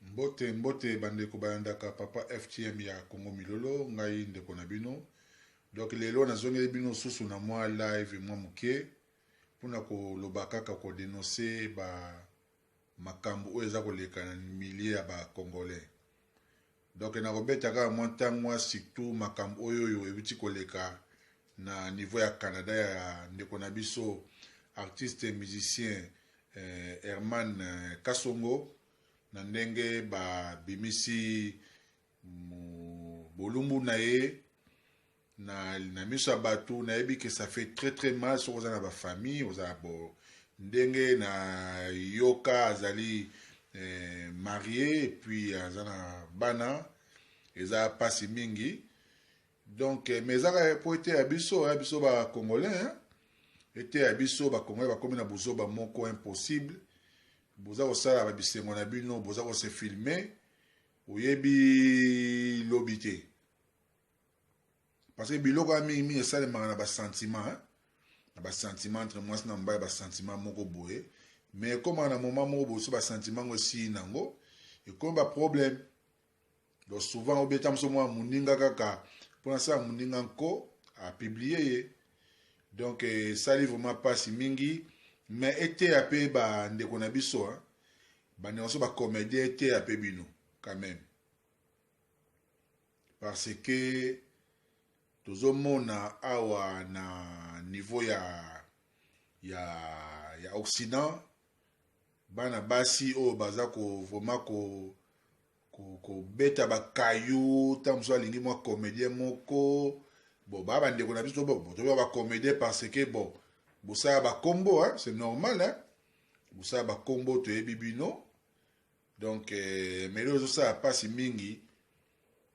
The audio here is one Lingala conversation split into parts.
mbote mbote bandeko bayandaka papa ftm ya congo milolo ngai ndeko na bino donk lelo nazongeli bino susu na mwa live mwa moke mpona koloba kaka kodenonse ba makambo oyo eza koleka na milie ya bacongolais Donc nako beta kaka mwa tango mwa surtout makambo oyo oyo ewuti koleka na niveau ya Canada ya ndeko na biso artiste musicien eh, Herman eh, Kasongo na ndenge ba bimisi bolumbu na ye na, na miso ya bato nayebi ke ça fait très très mal soki oza na bafamille oza bo ndenge na yoka azali eh, marie epuis aza na bana eza mpasi mingi donc eh, mais ezaka mpo eteya biso ya biso bacongolais eteya biso bacongolais bakomi na buzoba moko impossible boza kosala babisengo na bino boza kose filme oyebi lobi te parce que biloko ya mingi mingi esalemaka na basentiment hein? na basentiment entre mwasi na mobali basentiment moko boye mais ekomaka na moment moko boye so basentiment yango esili nango ekomi baproblème donc souvent obeta moso mwa moninga kaka mpo nasala moninga nko apiblie ye donc esali eh, vraiment mpasi mingi mais eteya mpe bandeko na biso bandeko na biso bacomédien eteya mpe bino quand même parce que tozomona awa na niveau ya ya ya occident bana basi oyo baza ko vraiment ko kobeta ko bakayu ntango mosusu alingi mwa comédien moko bon baa bandeko na biso toyoka bacomédien parce que bon bosala bakombo c'est normal hein? bosala bakombo toyebi bino donc eh, melo ezosala mpasi mingi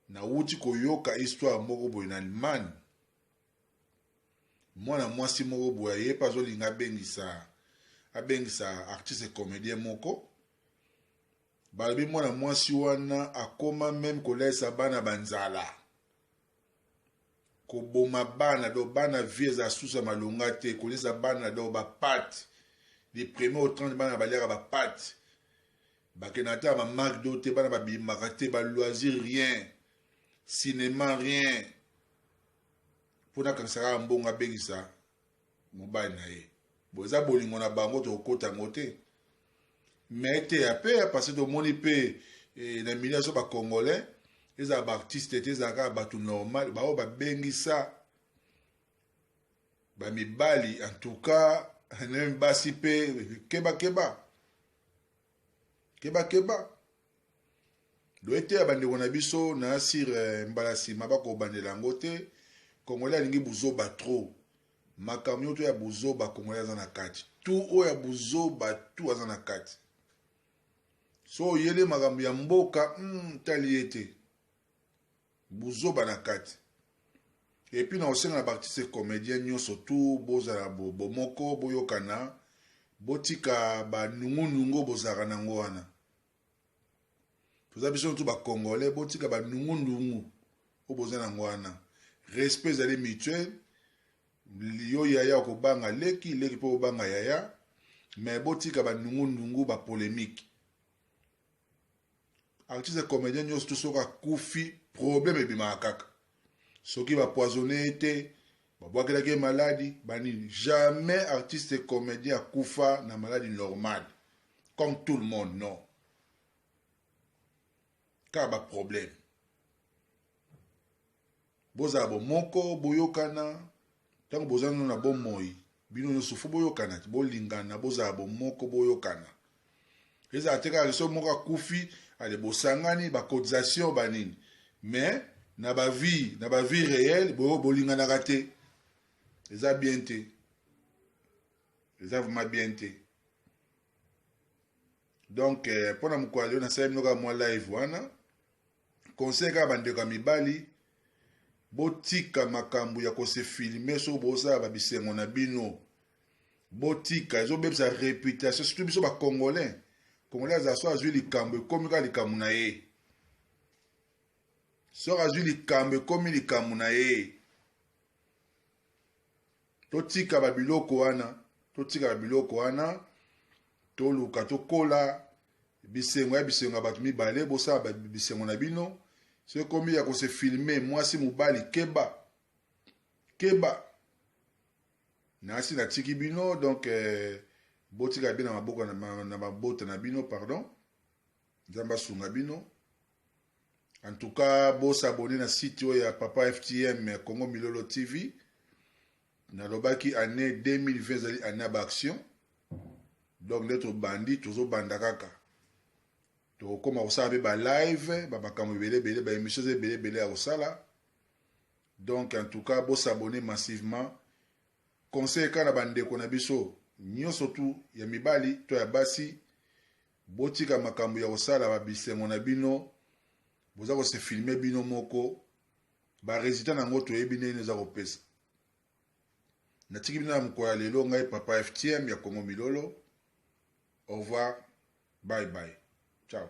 nawuti koyoka histoire moko boye na allemagne mwana mwasi moko boye aye mpe azolinga abengisa abengisa artiste comédien moko balobi mwana mwasi wana akoma meme kolalisa bana banzala koboma bana donc bana vie eza susa malonga te kolisa bana donc bapate de premier au 30 bana baliaka bapate bakenda ata ba macdo te bana babimaka te baloisir rien cinéma rien mpo nakanisaka mbongo abengisa mobali na ye bo eza bolingo na bango tokokota yango te me eteya mpe ya parce tomoni mpe eh, na milieu so bacongolais ezala baartiste te ezala kaka bato normal baoyo babengisa bamibali en tout cas nemi basi mpe kebakeba kebakeba loeteya bandeko na biso na sir eh, mbala nsima bakobandela yango te congolais alingi buzoba trop makambo nyoto ya buzoba congolais aza na kati tu oyo ya buzoba tu aza na kati so oyele makambo ya mboka mm, tali ye te buzoba na kati epuis na osenga na baartiste comédien nyonso tu bozala bomoko boyokana botika banungunungu bozalaka nango wana toza biso tu ba congolais botika ba nungu nungu oyo boza nango wana respect ezali mutuel yo yaya okobanga leki leki mpe obanga yaya me botika ba nungu nungu ba polemique artiste comédien nyonso tu soki akufi problème ebimaka kaka soki ba poisonne ye te babwakelaki ye maladi banini jamais artiste comédien akufa na maladi normale comme tout le monde non kaka baproblème bozala bomoko boyokana Tango boza nanu na bomoi bino nioso fo boyokana ti bolingana bozala bomoko boyokana ezala te kaka soki moko akufi ale bosangani ba cotisation ba nini mais na ba vie na ba vie réelle bo bolinganaka te eza bien te eza vraiment bien te donc mpo euh, na mokolo yo nasaleli bino kaka mwa live wana conseil kaka bandeko ya mibali botika makambo ya kose filme soki bozala ba bisengo na bino botika ezobebisa reputation surtout biso bacongolais congolais azala so azwi likambo ekomi kaka likambo na ye soki azwi likambo ekomi likambo na ye totika ba biloko wana totika ba biloko wana toluka tokola bisengo ya bisengo ya bato mibale bosala bisengo na bino so ekomi ya kose filme mwasi mobali keba keba nasi natiki bino donc eh, botika bino na maboko na mabota na bino pardon Nzambe asunga bino. En tout cas, bo s'abonner na site oyo ya Papa FTM Congo Milolo TV. Nalobaki année 2020 ezali année ya baaction. Donc nde tobandi tozobanda kaka. Tokokoma kosala mpe ba live, ba makambo ebele ebele, ba émissions ebele ebele ya kosala. Donc en tout cas, bo s'abonner massivement. Conseil kaka na bandeko na biso nyonso tu ya mibali to ya basi Botika makambu ya kosala ba bisengo na bino boza ko se filme bino moko ba resultat na yango toyebi ndenge eza kopesa natiki bino na mokolo ya lelo ngai papa ftm ya congo milolo au revoir bye bye ciao